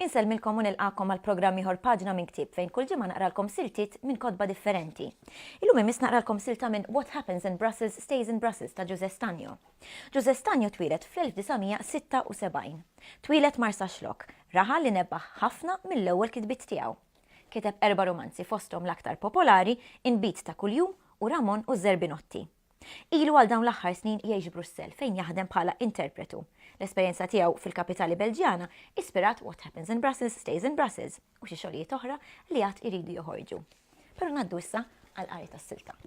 Insellmilkom u nilqakom għal programm ieħor paġna minn ktieb fejn kull ġimgħa naqralkom siltiet minn kotba differenti. Illum imiss naqralkom silta minn What Happens in Brussels Stays in Brussels ta' Ġuże Stanjo. Ġużè Stagno twieled fl-1976. Twieled Marsaxlokk, raħal li nebbaħ ħafna mill-ewwel kitbiet tiegħu. Kiteb erba' rumanzi fosthom l-aktar popolari Inbid ta' kuljum u Ramon u ż-Żerbinotti. Ilu għal dawn l-aħħar snin jgħix Brussell fejn jaħdem bħala interpretu. L-esperjenza tiegħu fil-kapitali Belġjana ispirat What Happens in Brussels Stays in Brussels u xi xogħlijiet oħra li għad iridu joħorġu. Però ngħaddu issa għall-qari tas-silta.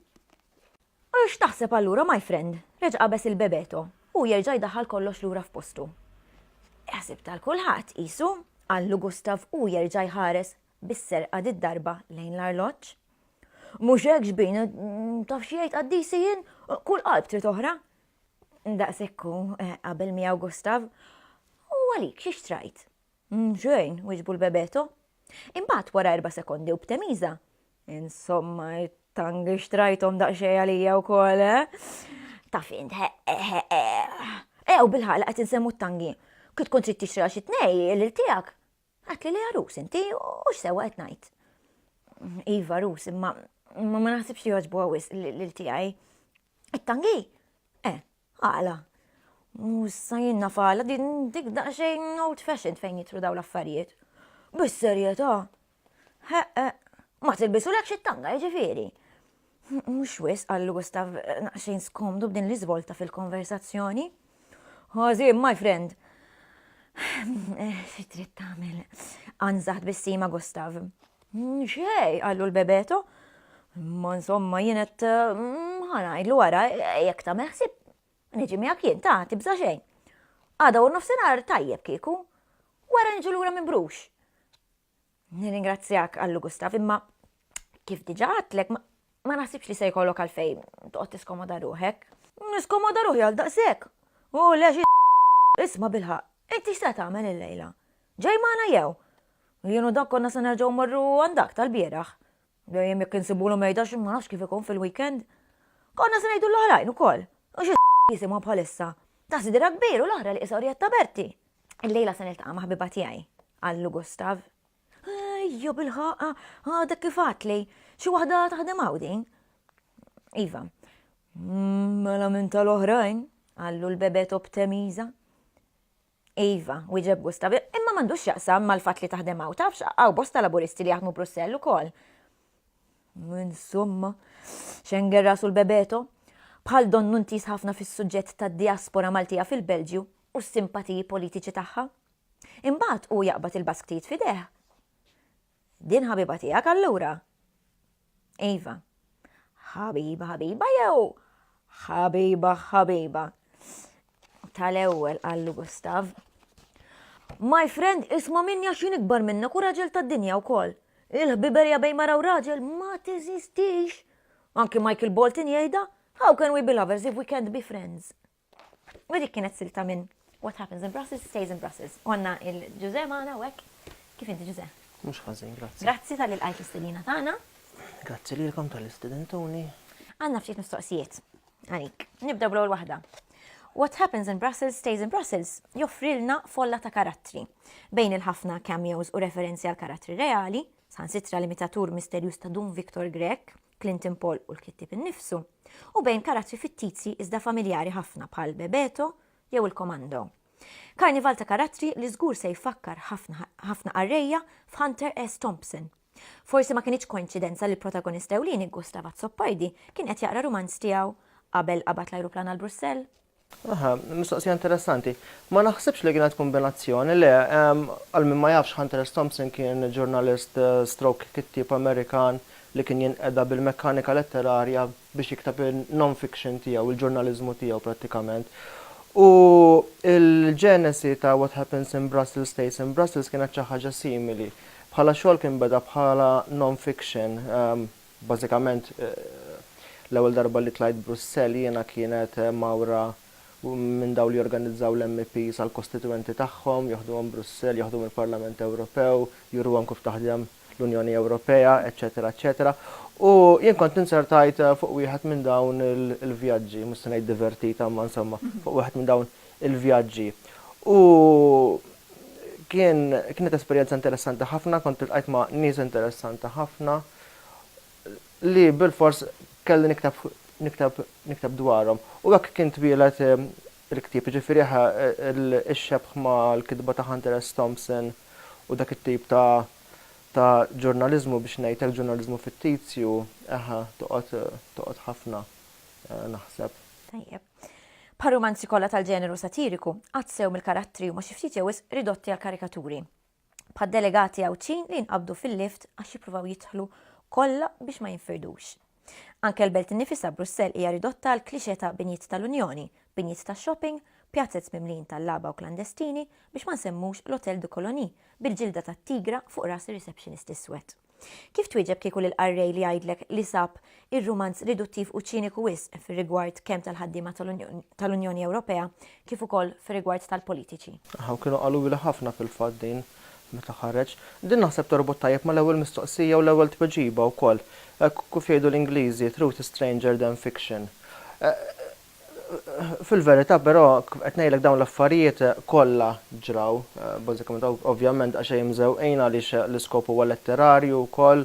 U x'taħseb allura, my friend? reġa' qabeż il-Bebeto, u jerġa' jdaħħal kollox lura f'postu. Iħsib tal kulħadd, qisu, qallu Gustav u jerġa' jħares bis-serqa did-darba lejn l-arloġġ. Mhux hekk, xbin, taf xi jgħid qaddisi jien, kull qalb trid oħra. Daqshekk hu, eh, qabel miegħu Gustav. U għalik xi xtrajt? Xejn, wiġbu l-Bebeto. Imbagħad wara erba' sekondi u b'temiża, Insomma, it-tangi xtrajthom daqsxejn għalija wkoll, eh? Taf int, ew bil-ħal qed insemmu t-tangi. Kif tkun trid tixtri għal xi tnej lil tiegħek? Għat li li għarus inti u x'sewwa qed ngħid. Iva rus, imma ma naħsibx li jogħġbu għawis lil tiegħi. It-tangi? Eh, Għala? U issa jien naf għala din dik daqsxejn old fashioned fejn jitru daw l-affarijiet. Bis-serjetà? Ħeqqa, ma tilbisu lek xi tanga jiġifieri. Mhux wis għal Gustav naqxejn skomdu b'din l-iżvolta fil-konversazzjoni. Ħażin, my friend. Xi trid tagħmel? Anżaħt bissima Gustav. X'hej, qallu l-Bebeto. Imma insomma jien qed mm, ħa ngħidlu wara, jekk tagħmel ħsieb niġi miegħek jien ta' tibża' xejn. Għada u nofsinhar tajjeb kieku. Wara niġu lura minn Brux. Nirringrazzjak, qallu Gustav, imma kif diġà għadtlek ma ma naħsibx li se jkollok għalfejn toqgħod tiskomoda ruħek. Niskomoda ruħi għal daqshekk. U le xi isma' bilħaq, inti x'se tagħmel illejla? Ġej magħna jew? Jien u Dan konna se nerġgħu mmorru għand dak tal-bieraħ. Dejjem jekk insibulu mejda xi ma nafx kif ikun fil-weekend. Konna se ngħidu l-oħrajn ukoll. U xi jisimhom bħalissa. Ta' sidra kbir u l-oħra li qisha Orjetta Berti. Illejla se niltaqa' ma' ħbiba tiegħi, qallu Gustav. Ejja bil-ħaqqa, għadek kif għadtli. Xi waħda taħdem hawn din? Iva. Mela minn tal-oħrajn, qallu l-bebet obtemiża. Iva, wieġeb Gustav, imma m'għandux x'jaqsam mal-fatt li taħdem hawn, tafx, hawn bosta Laburisti li jaħdmu Brussell ukoll. Insomma, xenger rasu l-bebeto. Bħal donnu ntiż ħafna fis-suġġett tad-diaspora Maltija fil-Belġju u s-simpatiji politiċi tagħha. Imbagħad hu jaqbad il-basktijiet f'idejh. Din ħabiba tiegħek allura? Iva. Ħabiba ħabiba jew ħabiba ħabiba? Tal-ewwel qallu Gustav. My friend isma' minni għax jien ikbar minnek u raġel tad-dinja wkoll. Il-ħbiberja bejn mara u raġel ma teżistix. Anki Michael Bolton jgħidha, how can we be lovers if we can't be friends? U dik kienet silta minn What happens in Brussels stays in Brussels. Għanna il-Ġuże maħna u hekk. Kif inti Ġuże? Mhux ħażin, grazzi. Grazzi tal-li lqajt l-istedina tagħna. Grazzi lilkom tal-li stedintuni. Għandna ftit mistoqsijiet għalik. Nibdew bl-ewwel waħda. What happens in Brussels stays in Brussels joffrilna folla ta' karattri. Bejn il-ħafna cameos u referenzi għal karattri reali, sħansitra l-imitatur misterjuż ta' Dun Victor Grek, Clinton Paul u l-kittieb innifsu, u bejn karattri fittizji iżda familjari ħafna bħal Bebeto jew il-Komando. Karnival ta' karattri li żgur se jfakkar ħafna qarrejja f'Hunter S. Thompson. Forsi ma kinitx koinċidenza li l-protagonist ewlieni Gustav Azzopardi kien qed jaqra rumanz tiegħu qabel qabad l-ajruplan għal Brussell. Aha, mistoqsija interessanti. Ma naħsibx li kienet kombinazzjoni, le, għal min ma jafx Hunter-S. Thompson kien ġurnalist stroke kittieb Amerikan li kien jinqeda bil-mekkanika letterarja biex jikteb in-non-fiction tiegħu, il-ġurnaliżmu tiegħu prattikament. U l-ġenesi ta' What Happens in Brussels Stays in Brussels kienet xi ħaġa simili. Bħala xogħol kien beda bħala non-fiction, Bażikament, l-ewwel darba li tlajt Brussell jiena kienet mgħawra minn dawn li jorganizzaw l-MEPs għall-kostituwenti tagħhom, joħduhom Brussell, joħduhom il-Parlament Ewropew, juruhom kif taħdem l-Unjoni Ewropea, eċċetera eċċetera. U jien kont inzertajt fuq wieħed minn dawn il-vjaġġi, mhux se ngħid divertita imma insomma, fuq wieħed minn dawn il-vjaġġi. U kien, kienet esperjenza interessanti ħafna, kont iltqajt ma' nies interessanti ħafna. li bilfors kelli nikteb nikteb nikteb dwarhom. U hekk kien twieled il-ktieb, jiġifieri eħe ix-xebh mal-kitba ta' Hunter S. Thompson u dak it-tip ta' ta' ġurnaliżmu biex ngħid hekk, ġurnaliżmu fittizju, eħe toqgħod toqgħod ħafna naħseb. Tajjeb. Bħar-rumanzi kollha tal-ġeneru satiriku, għad sew mill-karattri huma xi ftit jew wisq ridotti għall-karikaturi. bħad-delegati Għawdxin li jinqabdu fil-lift għax jippruvaw jidħlu kollha biex ma jinfirdux. Anke l-belt innifisha Brussell hija ridotta għal klixe ta' binjiet tal-Unjoni, binjiet ta' shopping, pjazez mimlijin tallaba u klandestini biex ma nsemmux l-Hotel de Colonie bil-ġilda tat-tigra fuq ras ir-receptionist iswed. Kif twieġeb kieku lill-qarrej li jgħidlek li sab ir-rumanz riduttiv u ċiniku wisq fir-rigward kemm tal-ħaddiema tal-Unjoni Ewropea kif ukoll fir-rigward tal-politiċi? Aħ, kienu qalulha ħafna fil-fatt din meta ħareġ. Din naħseb torbot tajjeb mal-ewwel mistoqsija u l-ewwel tweġiba wkoll. Hekk kif jgħidu l-Ingliżi, truth is stranger than fiction. Fil-verità, però, kif qed ngħidlek dawn l-affarijiet kollha ġraw, bażikament ovvjament għax Ejjem Żewqin għaliex l-iskop huwa letterarju wkoll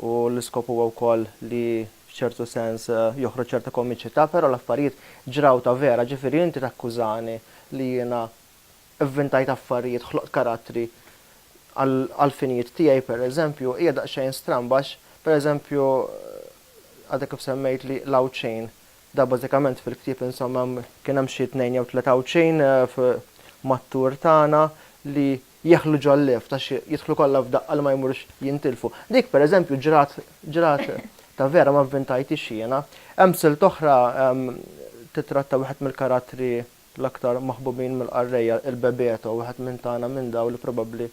u l-iskop huwa wkoll li f'ċertu sens joħroġ ċerta komiċità, però l-affarijiet ġraw ta' vera, ġifieri inti takkużani li jiena vvintajt affarijiet, ħloqt karattri għall-finijiet tiegħi, pereżempju, hija daqsxejn stramba għax, pereżempju, għadek kif semmejtli l-Għawdxin, Da bażikament fil-ktieb insomma kien hemm xi tnejn jew tliet Għawdxin mat-tour tagħna li jeħlu ġol-lift għax jidħlu kollha f'daqqa li ma jmurux jintilfu. Dik pereżempju ġrat ġrat ta' vera ma vvintajthiex jiena. Hemm silt oħra titratta wieħed mill-karattri l-aktar maħbubin mill-qarrejja, il-Bebeto, wieħed minn tagħna minn dawn li probabbli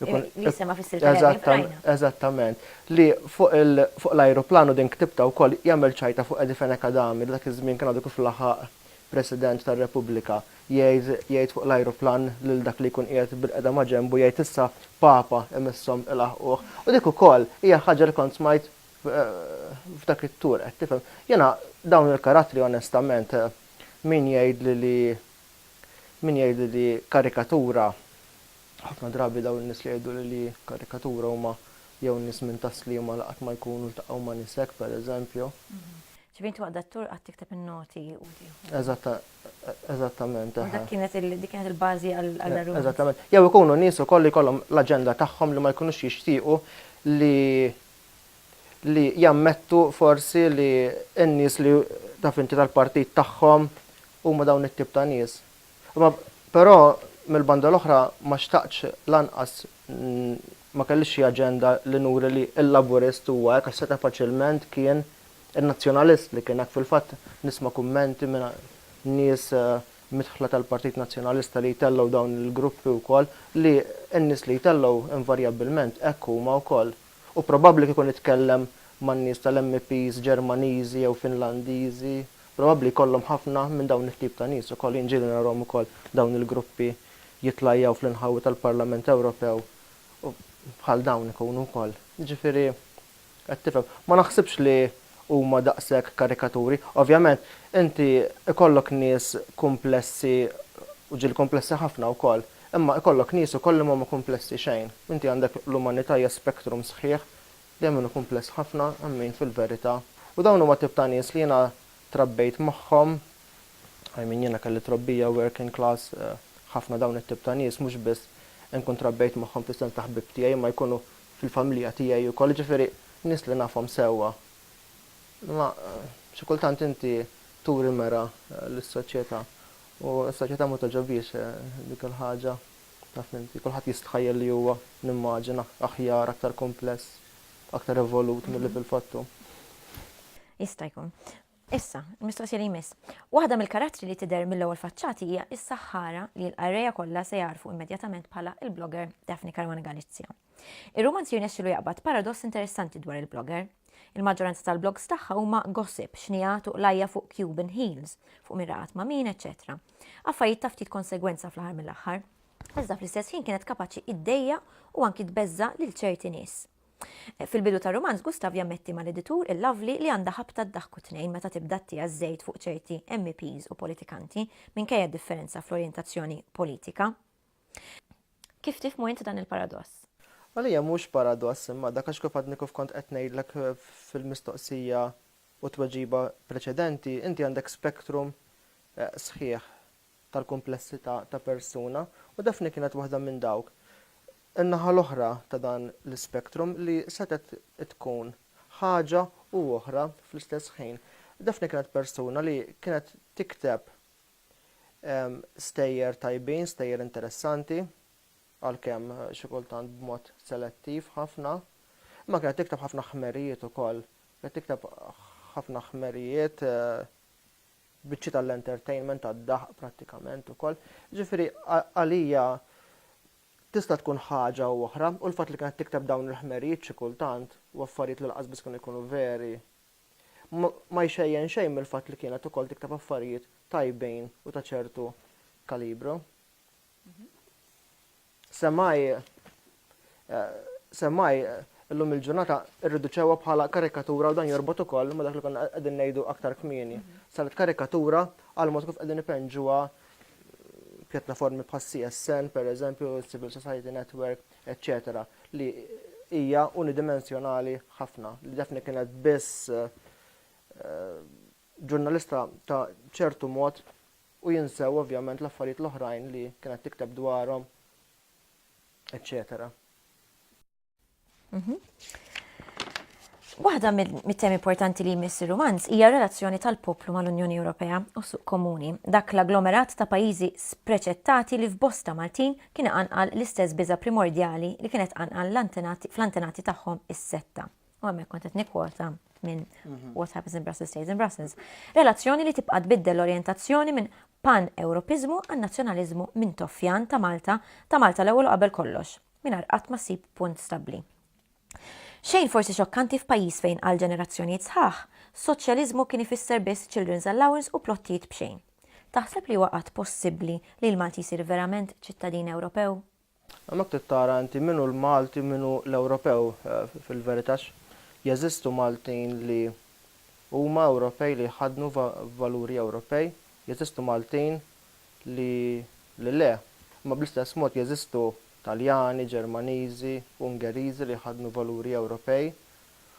jkun. Li jissemma fis-silta li għadni qrajna. Eżattament. Li fuq fuq l-ajruplan u din ktibtha wkoll, jagħmel ċajta fuq Eddie Fenech Adami li dak iż-żmien kien għadu kif laħaq President tar-Repubblika. Jgħid jgħid fuq l-ajruplan lil dak li jkun qiegħed bilqiegħda ma' ġenbu jgħid issa Papa imisshom ilaħħquh. U dik ukoll hija ħaġa li kont smajt f'dak it-tour, qed tifhem. Jiena dawn il-karattri onestament Min jgħidli li min jgħidli li karikatura, ħafna drabi dawn in-nies li jgħiduli li karikatura huma jew nies minn tas-Sliema li qatt ma jkunu ltaqgħu ma' nies hekk, pereżempju. Ġifieri inti waqt dat-tour qatt tikteb in-noti u tieħu. Eżattament, eħe. U dak kienet dik kienet il-bażi għall-għargħunt. Eżattament. Jew ikunu nies ukoll li jkollhom l-aġenda tagħhom li ma jkunux jixtiequ li li jammettu forsi li n-nies li taf inti tal-partit tagħhom huma dawn it-tip ta' nies. Imma però mill-banda l-oħra ma xtaqtx lanqas ma kellix xi aġenda li nuri li l-Laburist huwa hekk għax seta' faċilment kien in-Nazzjonalist li kien hekk. Fil-fatt nisma' kummenti minn nies midħla tal-Partit Nazzjonalista li jtellgħu dawn il-gruppi wkoll li n-nies li jtellgħu invarjabbilment hekk huma wkoll. u probabbli kieku nitkellem man-nies tal-MEPs Ġermaniżi jew Finlandiżi, probabbli jkollhom ħafna minn dawn it-tip ta' nies ukoll. Jien ġieli narahom ukoll dawn il-gruppi jitlajjaw fl-inħawi tal-Parlament Ewropew u bħal dawn ikunu wkoll. Jiġifieri, qed tifhem. Ma naħsibx li huma daqshekk karikaturi. Ovvjament, inti ikollok nies kumplessi u ġieli kumplessi ħafna wkoll, imma ikollok nies ukoll li m'huma kumplessi xejn. Inti għandek l-umanità hija spectrum sħiħ li hemm min hu kumpless ħafna, hemm min fil-verità. U dawn huma tip ta' nies li jiena trabbejt magħhom, I mean jiena kelli trobbija working class, ħafna dawn it-tip ta' nies mhux biss inkun trabbejt magħhom fis-sens ta' ħbieb tiegħi imma jkunu fil-familja tiegħi wkoll, jiġifieri nies li nafhom sewwa. Imma xi kultant inti turi mera lis-soċjetà u s-soċjetà ma togħġobhiex dik il-ħaġa, taf inti, kulħadd jistħajjel li huwa, nimmaġina, aħjar, aktar kumpless, aktar evolut milli fil-fatt hu. Jista' jkun. Issa, il-mistoqsija li jmiss. Waħda mill-karattri li tidher mill-ewwel faċċati hija s-saħħara li l-qarrejja kollha se jagħrfu immedjatament bħala l-blogger Daphne Caruana Galizia. Ir-rumanz jirnexxilu jaqbad paradoss interessanti dwar il-blogger. Il-maġġoranza tal-blogs tagħha huma gossip, xnigħat u qlajja fuq Cuban heels, fuq min raqat ma' min, eċċetera. Affarijiet ta' ftit konsegwenza fl-aħħar mill-aħħar. Iżda fl-istess ħin kienet kapaċi iddejjaq u anki tbeżża' lil ċerti nies. Fil-bidu tar-rumanz Gustav jammetti mal-editur il-Lovely li għandha ħabta ddaħku tnejn meta tibda ttiegħ żejt fuq ċerti MEPs u politikanti minkejja d-differenza fl-orjentazzjoni politika. Kif tifhmu int dan il-paradoss? Għalija mhux paradoss imma dak għax kif għadni kif kont qed ngħidlek fil-mistoqsija u tweġiba preċedenti, inti għandek spektrum sħiħ tal-kumplessità ta' persuna u Daphne kienet waħda minn dawk, in-naħa l-oħra ta' dan l-ispektrum li setgħet tkun ħaġa u oħra fl-istess ħin. Daphne kienet persuna li kienet tikteb stejjer tajbin, stejjer interessanti, għalkemm xi kultant b'mod selettiv ħafna, imma kienet tikteb ħafna ħmerijiet ukoll. Kienet tikteb ħafna ħmerijiet biċċi tal-entertainment tad-daħq prattikament ukoll. Jiġifieri għalija tista' tkun ħaġa u oħra u l-fatt li kienet tikteb dawn il-ħmerijiet xi kultant u affarijiet li lanqas biss kienu jkunu veri ma jxejjen xejn mill-fatt li kienet ukoll tikteb affarijiet tajbin u ta' ċertu kalibru. Semaj, semaj, illum il-ġurnata irriduċewa bħala karikatura u dan jorbot ukoll ma dak li konna qegħdin ngħidu aktar kmieni. Saret karikatura għal mod kif qegħdin ipenġuha pjattaformi bħal CSN, per eżempju, Civil Society Network, etc. li hija unidimensjonali ħafna, li defni kienet biss eh, ġurnalista ta' ċertu mod u jinsew ovvjament l-affarijiet l-oħrajn li kienet tikteb dwarhom eċċetera. Waħda mit-temi importanti li jmiss ir-rumanz hija relazzjoni tal-poplu mal-Unjoni Ewropea u suq komuni, dak l-agglomerat ta' pajjiżi spreċettati li f'bosta Maltin kien anqal l-istess biża' primordjali li kienet anqal fl-antenati tagħhom is-setta. u hemmhekk kont qed nikkwota minn mhm. What Happens in Brussels Stays in Brussels, relazzjoni li tibqa' tbiddel l-orjentazzjoni minn pan-Ewropiżmu għan nazzjonaliżmu minn toffjan ta' Malta ta' Malta l-ewwel u qabel kollox, mingħajr qatt ma ssib punt stabbli. Xejn forsi xokkanti f'pajjiż fejn għal ġenerazzjonijiet sħaħ, soċjaliżmu kien ifisser biss children's allowance u plottijiet b'xejn. Taħseb li waqgħat possibbli li l-Malti jsir verament ċittadin Ewropew? Hemmhekk trid tara inti min hu l-Malti min hu l-Ewropew fil-verità għax jeżistu Maltin li huma Ewropej li jħaddnu valuri Ewropej, jeżistu Maltin li li le. Imma bl-istess mod jeżistu Taljani, Ġermaniżi, Ungeriżi li jħaddnu valuri Ewropej.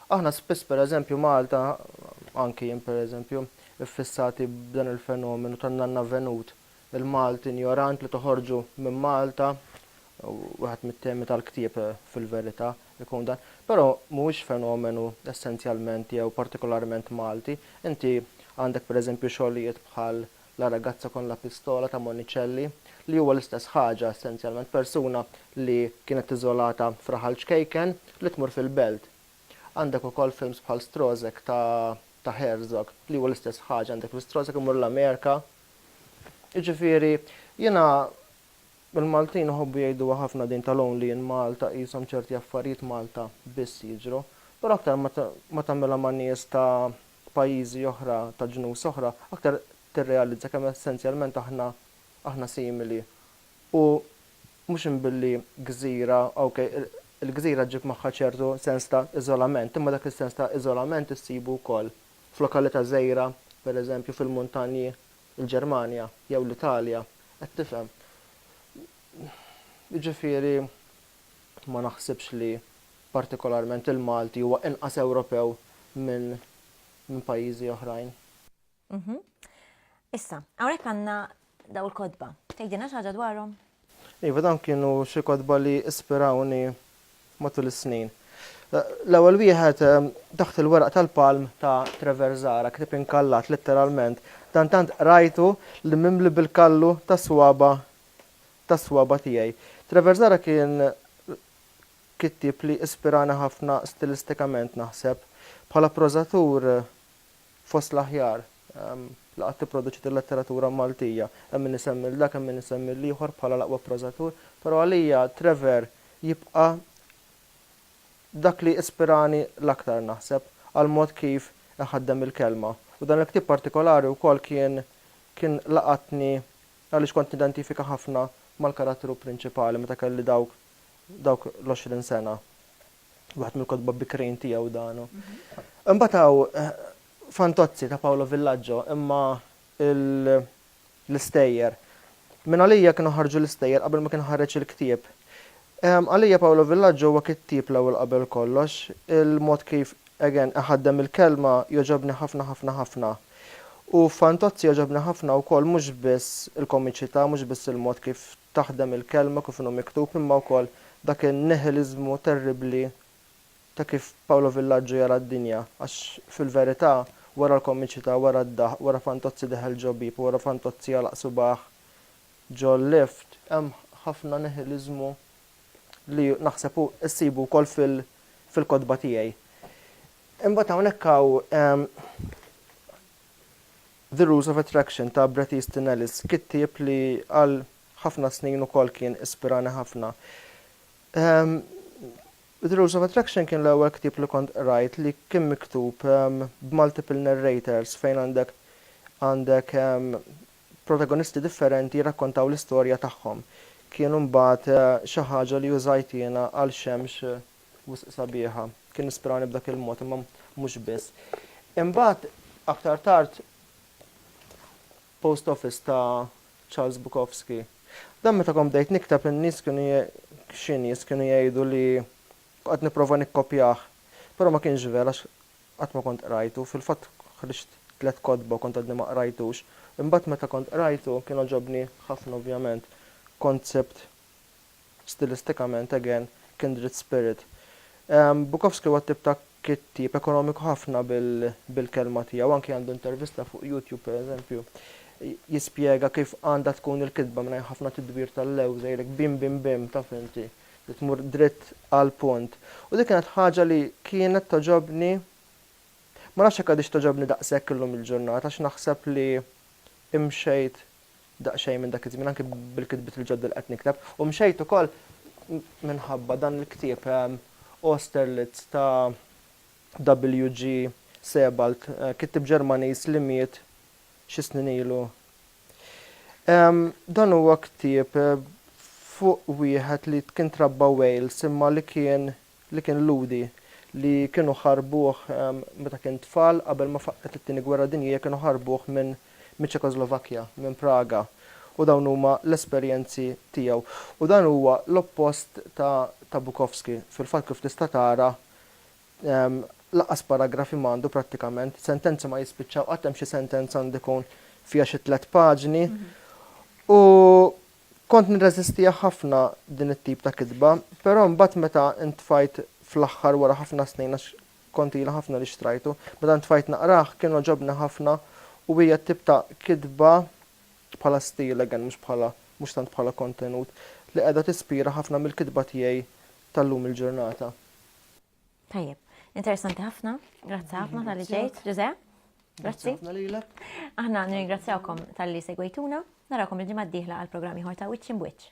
Aħna spiss pereżempju Malta, anki jien pereżempju, iffissati b'dan il-fenomenu tan-nanna Venut Il-Malti injorant li toħorġu minn Malta, wieħed mit-temi tal-ktieb fil-verità ikun dan, però mhuwiex fenomenu essenzjalment jew partikolarment Malti. Inti għandek pereżempju xogħlijiet bħal La ragazza con la pistola ta' Monicelli li huwa l-istess ħaġa essenzjalment, persuna li kienet iżolata f'raħal ċkejken li tmur fil-belt. Għandek ukoll films bħal Strozek ta' Herzog li huwa l-istess ħaġa, għandek li Strozek imur l-Amerika, Jiġifieri, jiena il-Maltin iħobbu jgħiduha ħafna din tal only in Malta qishom ċerti affarijiet Malta biss jiġru, però aktar ma ma tagħmilha ma' nies ta' pajjiżi oħra ta' ġnus oħra aktar tirrealizza kemm essenzjalment aħna aħna simili u mhux imbilli gżira ok il-gżira ġġib magħha ċertu sens ta' iżolament imma dak is-sens ta' iżolament issibu wkoll F'lokalità żgħira, per eżempju fil-muntanji, il-Ġermanja, jew l-Italja, qed tifhem. Jiġifieri ma naħsibx li partikolarment il-Malti huwa inqas Ewropew minn minn pajjiżi oħrajn. Issa, hawnhekk għandna dawn il-kotba. Tgħidilna xi ħaġa dwarhom? Iva, dawn kienu xi kotba li ispirawni matul is-snin. L-ewwel wieħed, Taħt il-weraq tal-palm ta' Trevor Zahra, ktieb inkallat letteralment. Dan tant qrajtu li mimli bil-kallu tas-swaba' tas-swaba' tiegħi. Trevor Zahra kien kittieb li ispirani ħafna stilistikament, naħseb. Bħala prożatur, fost l-aħjar li qatt ipproduċiet il-letteratura Maltija. Hemm min isemmi lil dak, hemm min isemmi lil ieħor bħala l-aqwa prożatur, però għalija Trevor jibqa' dak li ispirani l-aktar naħseb għall-mod kif iħaddem il-kelma. U dan il-ktieb partikolari wkoll kien kien laqatni għaliex kont nidentifika ħafna mal-karattru prinċipali meta kelli dawk dawk l-għoxrin sena. Waħed mill-kotba bikrin tiegħu dan. Imbagħad hawn Fantozzi ta' Paolo Villaggio imma l-istejjer. Minn għalija kienu ħarġu l-istejjer qabel ma kien ħareġ il-ktieb. Għalija Paolo Villaggio huwa kittieb l-ewwel qabel kollox. Il-mod kif, again, iħaddem il-kelma jogħġobni ħafna ħafna ħafna. U f'Fantozzi jogħġobni ħafna wkoll mhux biss il-komiċità, mhux biss il-mod kif taħdem il-Kelma kif inhu miktub imma wkoll dak in-nihiliżmu terribbli ta' kif Paolo Villaggio jara d-dinja għax fil-verità wara l-komiċità, wara d-daħq, wara Fantozzi deħel ġo bieb u wara Fantozzi għalaq subgħah ġo lift, hemm ħafna nihiliżmu li naħseb hu ssibu wkoll fil-kotba tiegħi. Imbagħad hawnhekk hawn The Rules of Attraction ta' Bret Easton Ellis, kittieb li għal ħafna snin ukoll kien ispirani ħafna. The Rules of Attraction kien l-ewwel ktieb li kont qrajt li kien miktub b'multiple narrators fejn għandek għandek protagonisti differenti jirrakkontaw l-istorja tagħhom. Kien imbagħad xi ħaġa li użajt jiena għal xemx Wisq sabiħa. Kien ispirani b'dak il-mod, imma mhux biss. Imbagħad aktar tard Post Office ta' Charles Bukowski. Dan meta kont bdejt nikteb in-nies kienu xi nies kienu jgħidu li qed nipprova nikkopjah. Però ma kienx vera għax qatt ma kont qrajtu. Fil-fatt ħriġt tliet kotba u kont għadni ma qrajtux. Imbagħad meta kont qrajtu kien għoġobni ħafna ovvjament. Kont sibt stilistikament, again, kindred spirit. Bukowski huwa t-tip ta' kittieb ekonomiku ħafna bil-kelma tiegħu, anki għandu intervista fuq YouTube, per eżempju, jispjega kif għandha tkun il-kitba mingħajr ħafna tidwir tal-lewża, jgħidlek bim bim bim, taf inti, li tmur dritt għall-punt. U dik kienet ħaġa li kienet togħġobni, ma nafx jekk għadhiex togħġobni daqshekk illum il-ġurnata għax naħseb li imxejt daqsxejn minn dak iż-żmien anki bil-kitbiet il-ġodda li qed nikteb u mxejt ukoll minħabba dan il-ktieb Austerlitz ta' W. G. Sebald, kittieb Ġermaniż li miet xi snin ilu. Dan huwa ktieb fuq wieħed li kien trabba Wales imma li kien li kien Lhudi, li kienu ħarbuh meta kien tfal qabel ma faqqgħet it-Tieni Gwerra Dinjija kienu ħarbuh minn miċ-Ċekoslovakkja, minn Praga, u dawn huma l-esperjenzi tiegħu. U dan huwa l-oppost ta' ta' Bukowski. Fil-fatt kif tista' tara lanqas paragrafi ma għandu prattikament, sentenzi ma jispiċċaw qatt hemm xi sentenza għandu jkun fiha xi tliet paġni. U Kont nirreżistiha ħafna din it-tip ta' kitba, però mbagħad meta ntfajt fl-aħħar wara ħafna snin għax kont ilha ħafna li xtrajtu, meta ntfajt naqrah kien għoġobni ħafna u hija t-tip ta' kitba, bħala stil again mhux bħala, mhux tant bħala kontenut, li qiegħda tispira ħafna mill-kitba tiegħi tal-lum il-ġurnata. Tajjeb, interessanti ħafna, grazzi ħafna tal-li ġejt, Ġuże. Grazzi. Aħna nirringrazzjawkom tal-li segwejtuna, narakom il-ġimgħa d-dieħla għall-programm ieħor ta' Wiċċ Imbwiċċ.